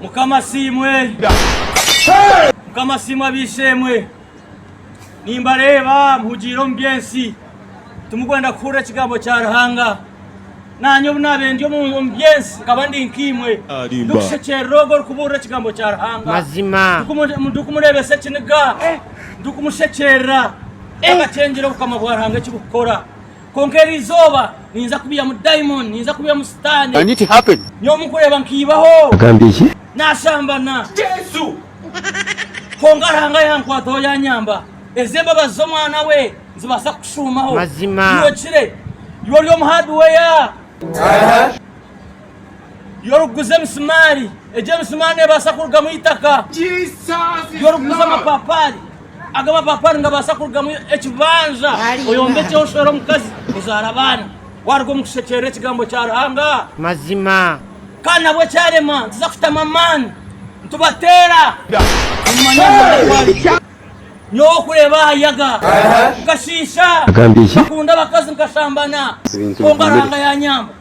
Mukama asiimwe! Mukama asiimwe ab'eishe-emwe! Nimbareeba muhugiire omu by'ensi, timukwenda kuhurira ekigambo kya Ruhanga. Naanye obu naabaire ndi omu by'ensi nkaba ndi nk'eimwe, ndikushekyerera ogwo orikubuurira ekigambo kya Ruhanga. Ndikumureebesa ekiniga, ndikumushekyerera. Takakyengyera obukama bwa Ruhanga eki burikukora. Kwonka eri izooba niinza kubiihamu dayimooni, niinza kubiihamu Sitaane. Nyowe mukureeba nkaibaho, naashambana. Kwonka Ruhanga yankwataho yaanyamba. Ezi embabazi z'Omwana we nizibaasa kukushuumaho. Iwe kire, iwe ori omu haadiweya. Yorikuguza emisimaari. Egyo emisimaari neebaasa kurugamu eitaka. Yorikuguza amapaapaari. Ago amapaapaari nigabaasa kurugamu ekibanja oyombekyeho oshwere omukazi ozaare abaana waaruga omu kushekyeera ekigambo kya Ruhanga. Mazima. Kandi nabwo kyarema nituza kutamu amaani nitubateera kumanya Ruhanga ku ari. Nyowe okureeba aha yaga nkashiisha, nkakunda abakazi nkashambana, kwonka Ruhanga yaanyamba.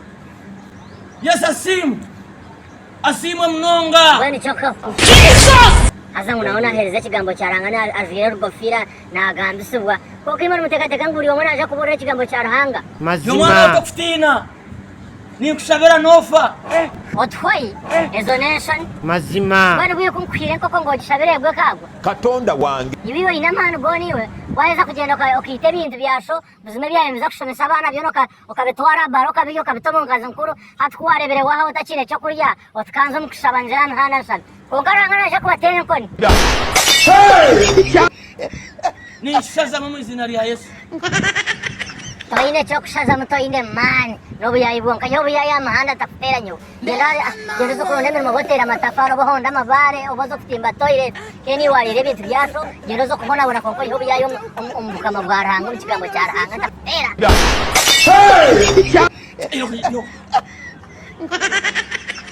Yesu asiimwe. Asiimwe munonga. Mbwenu kyoka ku haza ngu nawe nahereza ekigambo kya Ruhanga na ajwire rugofiira nagambisibwa. Kwonka imwe nimutekateka ngu buri omwe naja kuburira ekigambo kya Ruhanga. Yo mwana oto kutiina. Ninkushabira nofa. Otuhoi, ezo nenshoni. Mbwenu bwiyo ku nkuhiire enkoko ngu ogishabire egwe ekagwa. Katonda wange. Iwe oine amaani gona iwe waheza kugenda okaita ebintu bya sho Buzima ebyaayo nibiza kushomesa abaana byona okabitwara aha baara okabirya okabita omu nkazi nkuru hati ku waareebire waahaho otakiine eky'okurya oti kanze omu kushaba nzire aha mihanda nshabe kwonka Ruhanga naija kubateera enkoni. Ninshazamu omu iziina rya Yesu. Toine kyokushazamu toine maani nobuyaayi bwonka nyowe obuyaayi aha muhanda ntakuteera nyowe Denaari ah Gyenza oze oronde emirimo obe oteera amatafaari obe ohonde amabaare obe oze kutimba toilet K'en iwe wareera ebintu bya sho Gyenza oze okubonabona kwonka oyihe obuyaayi omu bukama bwa Ruhanga omu kigambo kya Ruhanga Ntakuteera